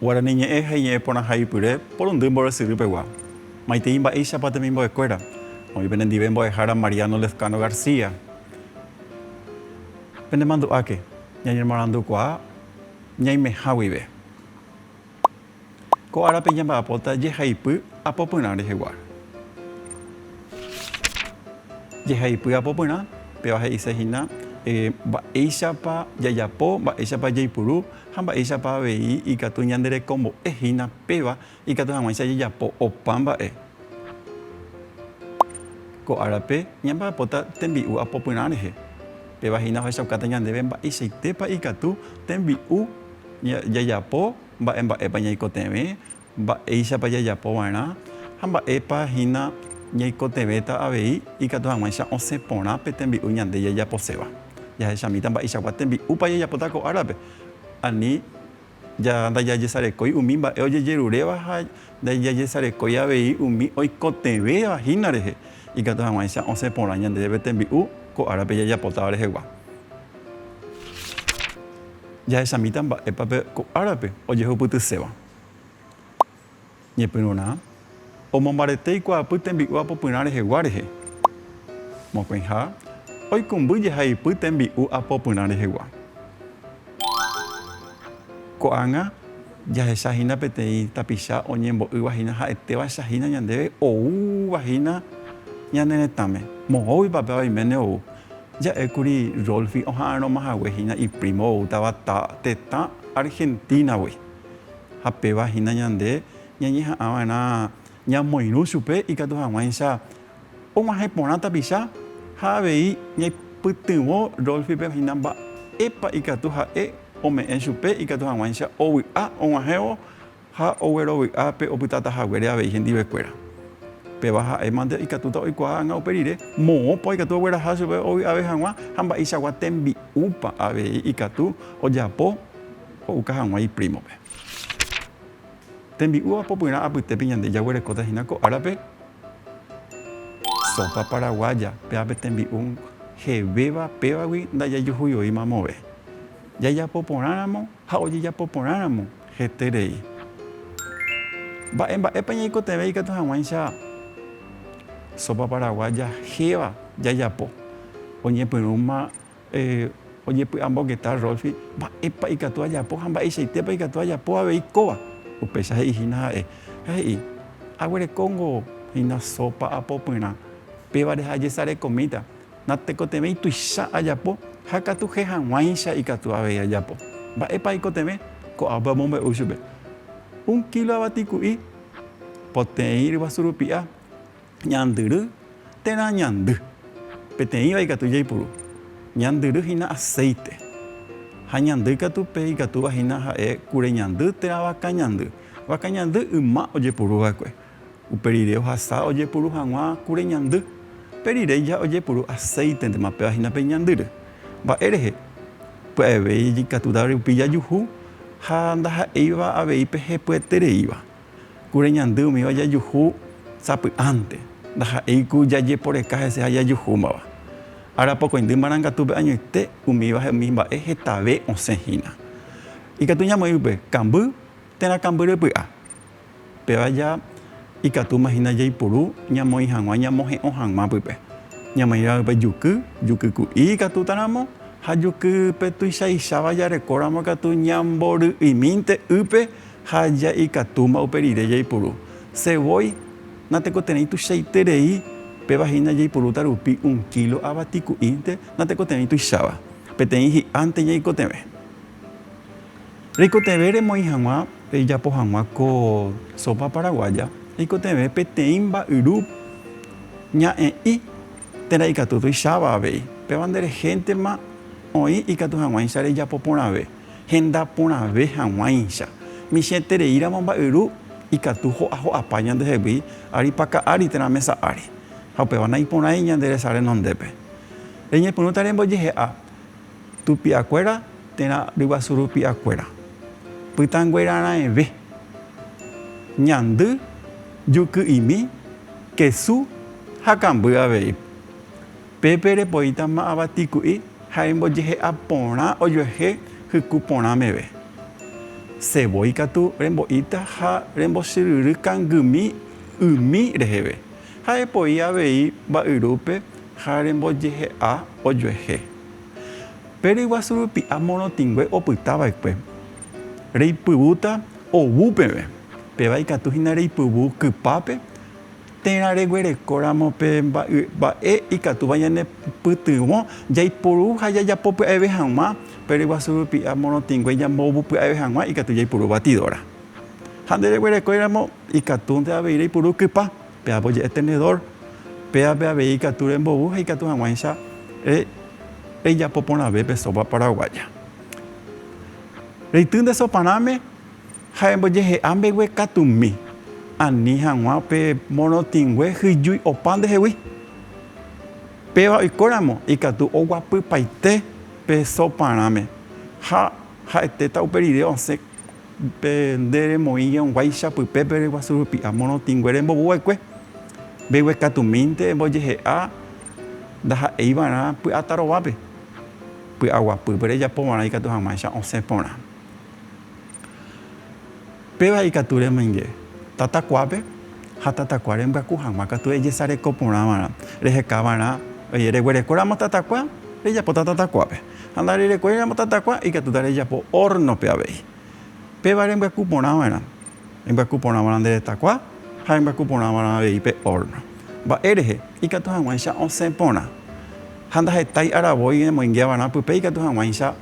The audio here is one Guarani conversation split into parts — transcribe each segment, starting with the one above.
Guarani ñe'ẽ ha iñe'ẽ porãha ipyre porundy mborresyry pegua. Maitei mba'éichapa temimbo'ekuéra, oĩ penendive mbo'ehára Mariano Lezcano García. Penemandu'áke, ñañemoarandukuaa. ñaimeha guive. Ko árape ñamba'apóta jehaipy apopyrã rehegua. Jehaipy apopyrã, péva he'ise hína mba'éichapa jajapo, mba'éichapa jaipuru ha mba'éichapa avei ikatu ñande rekombo'e hína péva Ikatu hag̃uáicha jajapo opa mba'e. Ko árape ñamba'apóta tembi'u apopyrã rehe. Péva hína ohechaukáta ñandéve mba'eichaitépa ikatu tembi'u jajapo, mba'e mba'épa ñaikotevẽ, mba'éichapa jajapo va'erã ha mba'épa hína ñaikotevẽta avei ikatu hag̃uáicha osẽ porã pe tembi'u ñande jajaposéva. Jahechamíta mba'eichagua tembi'úpa jajapóta ko árape ani Ndajajesarekói umi mba'e ojejeruréva ha ndajajesarekói avei umi oikotevẽva hína rehe, ikatu hag̃uáicha osẽ porã ñandéve pe tembi'u ko árape jajapotáva rehegua. Jahechamíta mba'épa pe ko árape ojehupytyséva. Ñepyrũrã, omombarete ikuaapy tembi'u apopyrã rehegua rehe. Mokõiha, oikũmby jehaipy tembi'u apopyrã rehegua. Ko'ág̃a, jahecha hína peteĩ tapicha oñembo'ýva hína ha'etéva echa hína ñandéve oúva hína ñane retãme. Moõgui papéva oiméne ou. Ja'ékuri Rolfi oha'arõma hague hína iprímo oútava tetã Argentínagui. Ha péva hína ñande ñañeha'ã va'erã ñamoirũ chupe ikatu hag̃uáicha og̃uahẽ porã tapicha ha avei ñaipytyvõ Rolfipe hína mba'épa ikatu ha'e ome'ẽ chupe ikatu hag̃uáicha ovy'a og̃uahẽvo ha oguerovy'a pe opytáta haguére avei hendivekuéra. Péva ha'e mante ikatúta oikuaa hag̃ua upe rire moõpa oikatu ogueraha chupe ovy'ave hag̃ua ha mba'eichagua tembi'úpa avei ikatu ojapo Ho'uka hag̃ua iprímope. Tembi'úva popyrã apytépe ñande jaguerekóta hína ko árape sópa paraguaya, péva pe tembi'u jevéva pévagui ndajajuhuivoíma amove. Jajapo porãramo ha ojejapo porãramo heterei. Mba'e mba'épa ñaikotevẽ ikatu hag̃uáicha sópa paraguaya héva jajapo, oñepyrũma Ojepy'ambongeta Rolfi mba'épa ikatu ajapo ha mba'eichaitépa ikatu ajapo avei kóva. Upéicha he'i hína ha'e, ha he'i, Aguerekóngo hína sópa apopyrã, pévare ha ajesarekomíta. Natekotevẽi tuicha ajapo ha katu che hag̃uáicha ikatu avei ajapo. Mba'épa aikotevẽ? Ko'ápe omombe'u chupe, Un kílo avatiku'i, poteĩ ryguasu rupi'a, Ñandyry térã ñandy. Peteĩva ikatu jaipuru. Ñandyry hína aséite. Ha ñandy katu pe ikatúva hína ha'e kure ñandy térã vaka ñandy. Vaka ñandy yma ojepuru va'ekue. Upe rire ohasa ojepuru hag̃ua kure ñandy. Pe rire ja ojepuru aséitentema péva hína pe ñandyry. Mba'e rehe? Pya'eve ikatúta rupi jajuhu ha ndaha'éiva avei pe hepyetereíva. Kure ñandy umíva jajuhu sapy'ánte, ndaha'éi ku jajeporeka hese ha jajuhúmava. Arapokõindy marangatúpe añoite umíva ha umi mba'e hetave osẽ hína. Ikatu ñamoĩ upe kamby térã kamby repy'a. Péva ja ikatúma hína jaipuru ñamoĩ hag̃ua ñamohe'õ hag̃ua pype. Ñamoĩva upe juky, juky ku'i ikatúta ramo ha juky pe tuichaicháva jarekóramo katu ñambory'imínte ýpe Ha ja ikatúma upe rire jaipuru. Se voi, natekoterei tuichaiterei, péva hína jaipurúta rupi un kílo ava tiku'ínte, natekoterei tuicháva. Peteĩ hi'ánte ñaikotevẽ. Reikotevẽ remoĩ hag̃ua, rejapo hag̃ua ko sópa paraguaya, reikotevẽ peteĩ mba'yru ña'ẽ'i térã ikatu tuicháva avei. Péva nde rehéntema oĩ ikatu hag̃uáicha rejapo porãve. Henda porãve hag̃uáicha, michĩetereíramo mba'yru ikatu ho'aho'apa ñandehegui ary paka ári térã mesa ári, ha upéva naiporãi ñande resa renondépe. Reñepyrũta rembojehe'a tupi'akuéra térã ryguasu rupi'akuéra, pytãnguéra raẽve, ñandy, juky'imi, kesu ha kamby avei. Pépe repoíta ma'ava tiku'i ha rembojehe'a porã ojuehe hyku porã meve. Sevói katu rembo'íta ha rembochyryry kangymi ymi reheve, ha epoi avei mba'yrúpe ha rembojehe'a ojuehe. Pe ryguasu rupi'a morotĩngue opyta va'ekue, reipyvúta ovu peve, péva ikatu hína reipyvu kypápe, Térã reguerekóramo pe mba'e ikatúva ñanepytyvõ jaiporu ha jajapo pya'eve hag̃ua, pe ryguasu rupi ha morotĩngue ñambovu pya'eve hag̃ua ikatu jaipuru batidora. Ha nde reguerekóiramo ikatúnte avei reipuru kypa, péapo je'e tenedor, péape avei ikatu rembovu ha ikatu hag̃uáicha rejapo porãve pe sopa paraguaya. Reity nde soparãme Ha embojehe'a mbeguekatumi, ani hag̃ua pe morotĩngue hyjúi opa ndehegui. Péva oikóramo ikatu oguapypaite pe soparãme, ha ha'etéta upe rire osẽ pe nde remoĩ jeunguáicha pype pe reguasu rupi'a morotĩngue rembovu va'ekue. Mbeguekatumínte embojehe'a ndaha'éi va'erã py'atarovápe, py'aguapýpe rejapo va'erã ikatu hag̃uáicha osẽ porã. Péva ikatu remoinge tatakuápe ha tatakua rembyakú hag̃ua katu ejesareko porã va'erã. Reheka va'erã, oĩ, reguerekóramo tatakua, rejapóta tatakuápe. Ha ndarerekóiramo tatakua, ikatúta rejapo órnope avei. Péva rembyaku porã va'erã, rembyaku porã va'erã nde retakua ha rembyaku porã va'erã avei pe órno. Mba'e rehe? Ikatu hag̃uáicha osẽ porã. Ha ndahetái aravoi emoinge va'erã pype ikatu hag̃uáicha.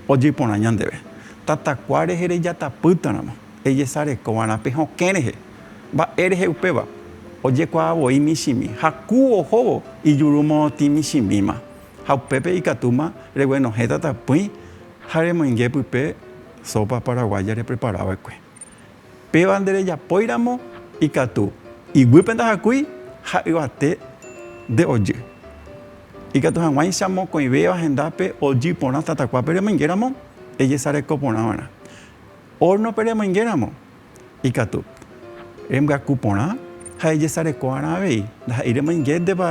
Ojeporã ñandéve, Tatakua rehe rejatapýtaramo, ejesarekova'erã pe hokẽ rehe. Mba'e rehe upéva? Ojekuaa voi michĩmi ha ku ohóvo ijuru morotĩ michĩmíma. Ha upépe ikatúma reguenohẽ tatapỹi ha remoinge pype sópa paraguáya repreparava'ekue. Péva nderejapóiramo ikatu, iguýpe ndahakúi ha yvate nde ojy. Ikatu hag̃uáicha mokõivéva hendápe ojy porã tatakua peremoingéramo ejesareko porã va'erã. Órno peremoingéramo ikatu, rembyaku porã ha ejesareko va'erã avei. Ndaha'éi remoingéntepa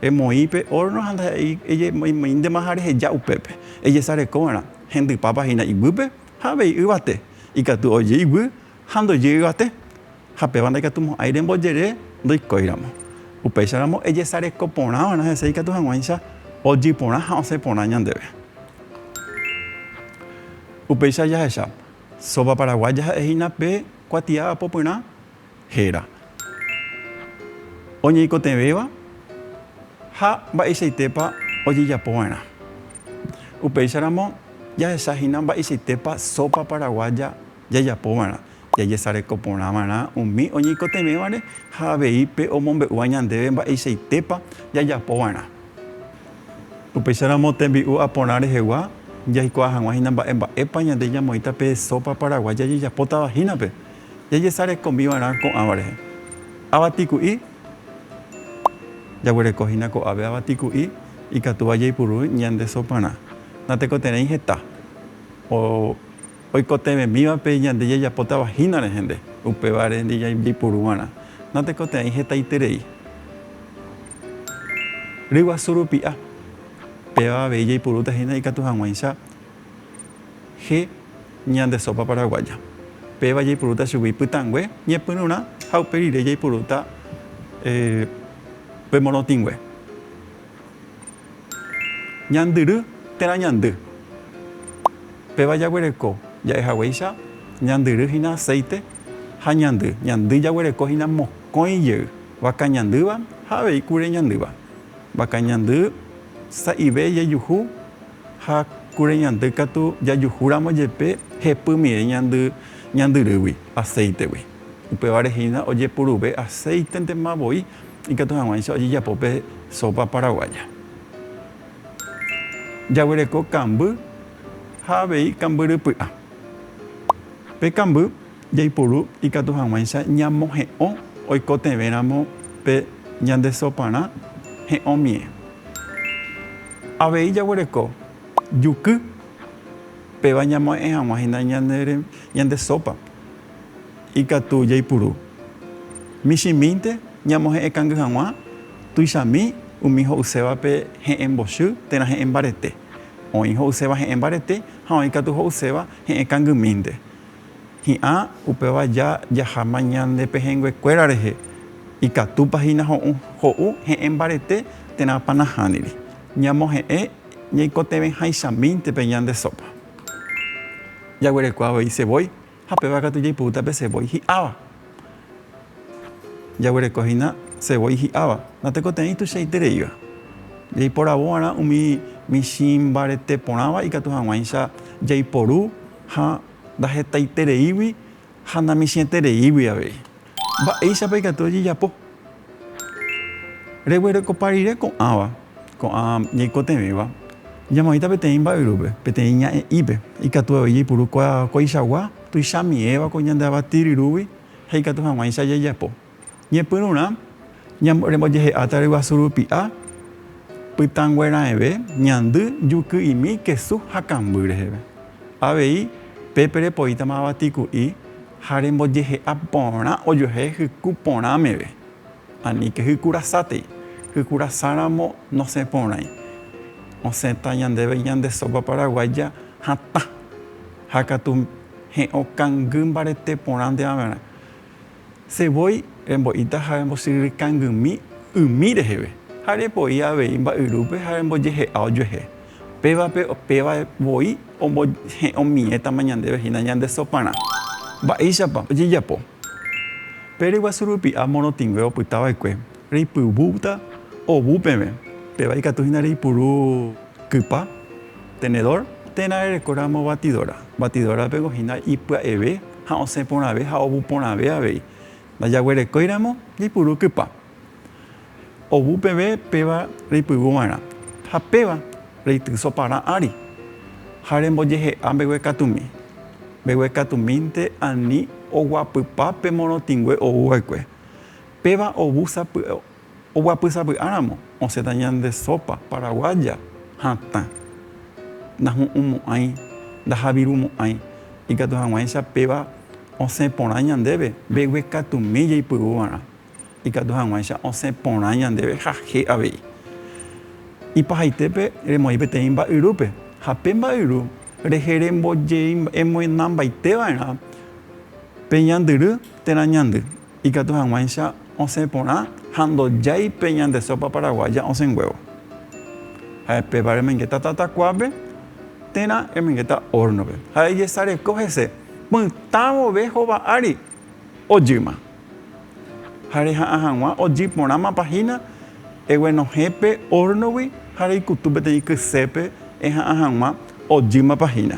emoĩ pe órno ha ndaha'éi emoĩndema ha reheja upépe. Ejesareko va'erã hendypápa hína iguýpe. Ha avei yvate ikatu oje iguy ha ndojy yvate, ha péva ndaikatu mo'ãi rembojere ndoikóiramo. Upéicharamo ejesareko porã va'erã hese ikatu hag̃uáicha ojy porã ha osẽ porã ñandéve. Upéicha jahecha, Sopa Paraguaya ha'ehína pe kuatia apopyrã, héra oñeikotevẽva ha mba'eichaitépa ojejapova'erã. Upéicharamo jahechahína mba'eichaitépa sópa paraguaya jajapova'erã, jajesareko porãva'erã umi oñeikotevẽvare ha avei pe omombe'úva ñandéve mba'eichaitépa jajapova'erã. Upéicharamo tembi'u aporã rehegua jaikuaa hag̃uahína mba'emba'épa ñande ñamoĩta pe sópa paraguaya jajapotavahínape jajesarekomiva'erã ko'ãva rehe. Avatiku'i, Jaguereko hína ko'ápe avatiku'i ikatúva jaipuru ñande soparã. Natekotevẽi heta. Oikotevẽmívape ñande jajapótava hína rehe nde, upévare nde jaipuruva'erã. Natekotevẽi hetaiterei. Ryguasu rupi'a, Péva avei jaipurúta hína ikatu hag̃uáicha. Che ñande sopa paraguaya. Péva jaipurúta chugui pytãngue, ñepyrũrã ha upe rire jaipurúta pe morotĩngue. Ñandyry térã ñandy. Péva jaguereko ja'e haguéicha ñandyry hína acéite ha ñandy. Ñandy jaguereko hína mokõi jey, vaka ñandýva ha avei kure ñandýva. Vaka ñandy sa'ive jejuhu. ha kure ñandy katu jajuhúramo jepe hepymire ñandy ñandyrýgui aceitegui. Upévare hína ojepuruve aceitentema voi ikatu hag̃uáicha ojejapo pe sopa paraguaya. Jaguereko kamby ha avei kambyrypy'a. Pe kamby. Jaiporu ikatu hag̃uáicha ñamohe'õ oikotevẽramo pe ñande soparã he'õmie. Avei jaguereko juky, péva ñamohe'ẽ hag̃ua hína ñande sópa. Ikatu jaipuru michĩmínte ñamohe'ẽkangy hag̃ua tuichami umi ho'usévape he'ẽ mbochy térã he'ẽ mbarete. Oĩ ho'uséva he'ẽ mbarete ha oĩ katu ho'uséva he'ẽ kangymínte. Hi'ã, upéva ja jahama ñande pehẽnguekuéra rehe, ikatúpa hína ho'u, ho'u he'ẽ mbarete térãpa nahániri, ñamohe'ẽ ñaikotevẽháichamínte pe ñande sópa. Jaguerekua avei sevói, ha péva katu jaipoúta pe sevói hi'áva. Jaguereko hína sevói hi'áva, natekote'ãi tuichaite reíva. Jaiporavo va'erã umi michĩ mbarete porãva ikatu hag̃uáicha jaiporu ha Ndahetaitereígui ha namisietereígui avei. Mba'éichapa ikatu rejejapo? Reguerokopa rire ko'ãva, ko'ã ñaikotevẽva. Ñamoĩta peteĩ mba'yrúpe, peteĩ ña'e'ípe. Ikatu avei jaipuru ko'aichagua tuichami'ẽva ko ñande avatiryrúgui ha ikatu hag̃uáicha jajapo. Ñepyrũrã, rembojehe'áta ryguasu rupi'a, pytãngueraẽve, ñandy, juky'imi, kesu ha kamby reheve. Avei, pépe repoítama avatiku'i ha rembojehe'a porã ojuehe hyku porã meve. Aníke hyku rasátei. Hyku rasáramo nosẽ porãi. Osẽta ñandéve ñande sópa paraguáya hatã ha katu he'õ kangy mbarete porãnte va'erã. Che voi rembo'íta ha rembosyryrykangymí umi reheve, ha repo'i avei mba'yrúpe ha rembojehe'a ojuehe. Pévape péva voi ombohe'õmiẽtama ñandéve hína ñande soparã. Mba'éichapa ojejapo? Pe ryguasu rupi'a morotĩngue opyta va'ekue, reipyvúta ovu peve, péva ikatu hína reipuru kypa, tenedor, térã rereko ramo batidora. Batidórape ko hína ipya'eve. ha osẽ porãve ha ovu porãve avei. Ndajaguerekóiramo jaipuru kypa. Ovu peve péva reipygu va'erã, ha péva reity soparã ári. Ha rembojehe'a mbeguekatumi. Mbeguekatumínte ani oguapypa pe morotĩngue ou va'ekue. Péva ovu sapy'a. Oguapysavy'áramo osẽta ñande sópa paraguaya hatã. Ndahu'ũmo'ãi, ndajavirumo'ãi, ikatu hag̃uáicha péva osẽ porã ñandéve mbeguekatumi jaipuru va'erã, ikatu hag̃uáicha osẽ porã ñandéve jaje avei. Ipahaitépe remoĩ peteĩ mba'yrúpe, ha pe mba'yru rehe rembojeimbo'emoinambaite va'erã pe ñandyry térã ñandy. Ikatu hag̃uáicha osẽ porã ha ndojái pe ñande sópa paraguaya osẽnguévo. Ha'e péva remengeta tatakuápe térã remengeta órnope. Ha'e ejesareko hese pytã vove hova ári ojýma. Ha reha'ã hag̃ua ojy porãma pahína eguenohẽ pe órnogui ha reikutu peteĩ kysépe eha'ã hag̃ua ojýma pahína.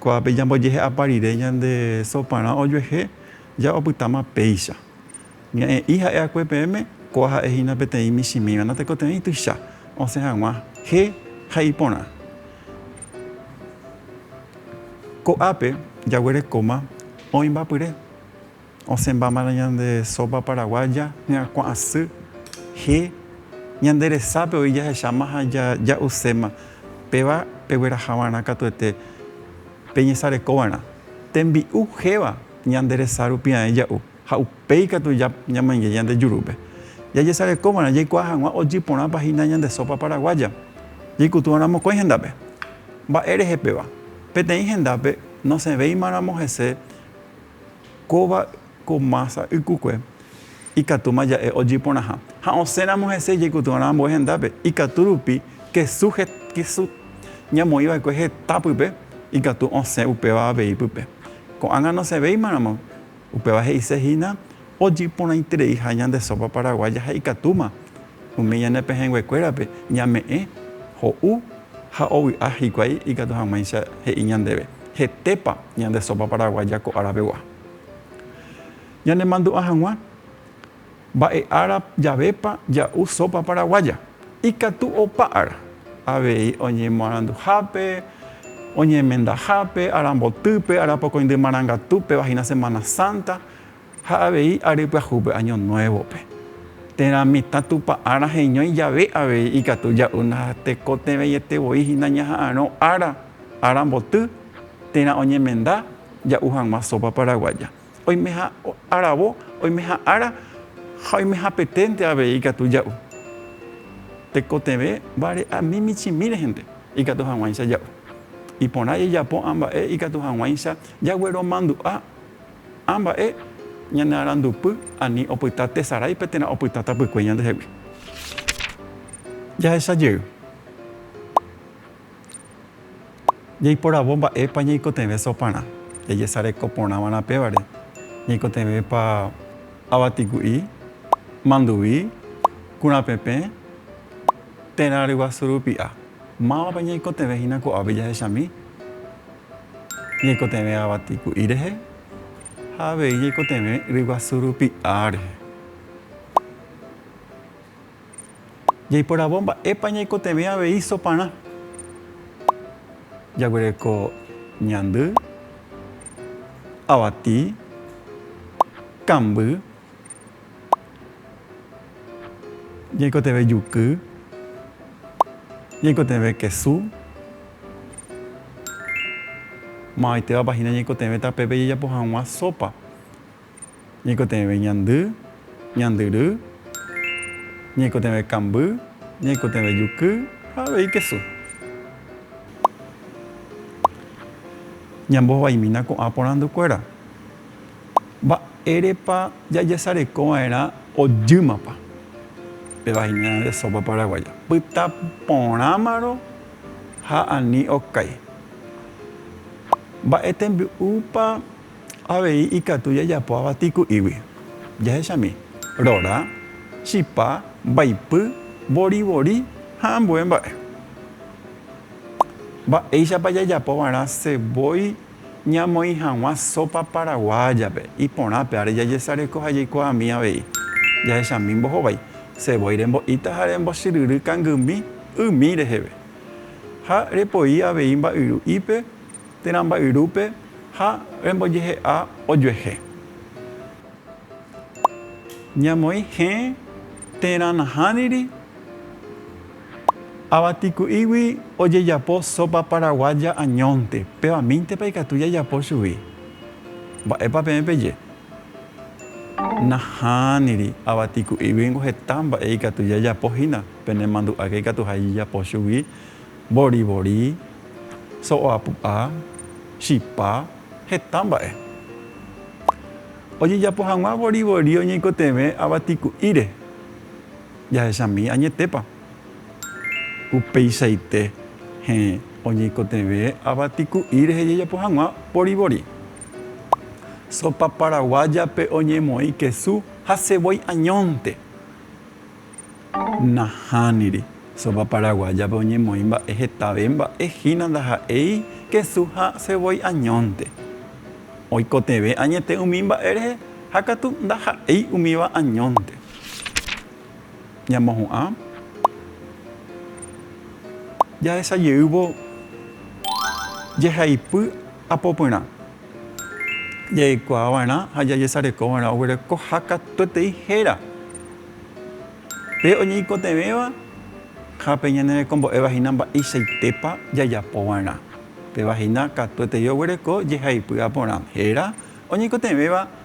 Ko'ápe ñambojehe'ápa rire ñande soparã ojuehe ja opytáma péicha. Ña'ẽ'i ha'e akue peẽme, ko'a ha'e hína peteĩ michĩmíva natekotevẽi tuicha osẽ hag̃ua he ha iporã. Ko'ápe jaguerekóma oĩ mba'pyre. Osẽmbámarã ñande sópa paraguaya, ñakuã'asy, je, ñande resápe oĩ jahecháma ha ja'uséma, péva peguerahava'erã katuete peñesarekova'erã. Tembi'u jéva ñande resa rupi ae ja'u ha upéi katu ñamainge ñande jurúpe. Jajesarekova'erã jaikuaa hag̃ua ojy porãpa hína ñande sópa paraguaya jaikutúva'erã mokõi hendápe. Mba'érehe péva? Peteĩ hendápe nosẽvéimaramo hese, kóva ko mása ykukue, ikatúma ja'e ojiporãha. Ha osẽramo hese jaikutu va'erã ambue hendápe, ikatu rupi kesu kesu ñamoĩ va'ekue heta pype, ikatu osẽ upéva avei pype. Ko'ág̃a nosẽvéima ramo, upéva he'ise hína Ojeporãitereiha ñande sópa paraguaya ha ikatúma umi ñane pehẽnguekuérape ñame'ẽ ho'u ha ovy'a hikuái ikatu hag̃uáicha he'i ñandéve hetépa ñande sópa paraguaya ko ára pegua. Ñanemandu'a hag̃ua mba'e ára javépa ja'u sópa paraguaya. Ikatu opa ára, avei oñemoaranduhápe, oñemendahápe, arambotýpe, arapokõindy marangatu, pevaína Semana Santa, Ha avei ary pyahúpe año nuévope, térã mitã Tupã ára heñói jave avei ikatu ja'úna ha tekotevẽiete voi hína ñaha'arõ ára, ára mboty, térã oñemenda ja'u hag̃ua sópa paraguaya. Oimeha aravo, oimeha ára ha oimehapeténte avei ikatu ja'u. Tekotevẽ vare'ami michĩmi rehende ikatu hag̃uáicha ja'u. Iporã jajapo amba'e ikatu hag̃uáicha jagueromandu'a. Ha mba'e ñane arandupy ani opyta tesaráipe térã opyta tapykue ñandehegui. Jahecha jey, jaiporavo mba'épa ñaikotevẽ soparã, jajesareko porã va'erã pévare, ñaikotevẽpa avatiku'i, manduvi, kurapepẽ, térã ryguasu rupi'a. Mávapa ñaikotevẽ hína ko'ápe jahechami? Ñaikotevẽ avati ku'i rehe ha avei ñaikotevẽ ryguasu rupi A rehe. Jaiporavo mba'épa ñaikotevẽ avei soparã. Jaguereko ñandy, avati, kamby. Ñaikotevẽ juky. Ñaikotevẽ kesu. Mavaitevapa hína ñaikotevẽ tapépe jajapo hag̃ua sópa. Ñaikotevẽ ñandy, ñandyry. Ñaikotevẽ kamby, ñaikotevẽ juky ha avei kesu. Ñambohovaimína ko'ã porandukuéra. Mba'érepa jajesarekova'erã ojýmapa pe vaina de sópa paraguaya? Pyta porãmaro ha ani okái. Mba'e tembi'úpa avei ikatu jajapo avati ku'ígui? Jahechami, rora, chipa, mbaipy, vorivori ha ambue mba'e. Mba'éichapa jajapova'erã cebolla Ñamoĩ hag̃ua sópa paraguáyape, iporãpe ári jajesareko ha jaikuaami avei. Jahechami mbohovái, sevói rembo'íta ha rembochyryry kangymi ymi reheve. Ha repoi avei mba'yru'ípe térã mba'yrúpe ha rembojehe'a ojuehe. Ñamoĩ hẽ térã nahániri. Avatiku'ígui ojejapo sópa paraguaya añónte, pevamíntepa ikatu jajapo chugui? Mba'épa peẽ peje? Nahániri, avatiku'ígui ningo heta mba'e ikatu jajapo hína, penemandu'áke ikatuha jajapo chugui, borivori, so'oapu'a, chipa, heta mba'e. Ojejapo hag̃ua borivori oñeikotevẽ avatiku'íre. jahechami añetépa. Upeichaite hẽ oñeikotevẽ avatiku'i rehe jajapo hag̃ua boribori. Sopa paraguáyape oñemoĩ kesu ha sevói añónte. Nahániri, sopa paraguáyape oñemoĩ mba'e hetave mba'e hína ndaha'éi kesu ha sevói añónte. Oikotevẽ añete umi mba'e rehe ha katu ndaha'éi umíva añónte. Ñamohu'ã. Jahesa jeývo jehaipy apopyrã. Jaikuaava'erã ha jajesarekova'erã oguerekoha katuetei héra, pe oñeikotevẽva ha pe ñanerekombo'éva hína mba'eichaitépa jajapova'erã. Péva hína katuetei oguereko jehaipy aporã héra, oñeikotevẽva.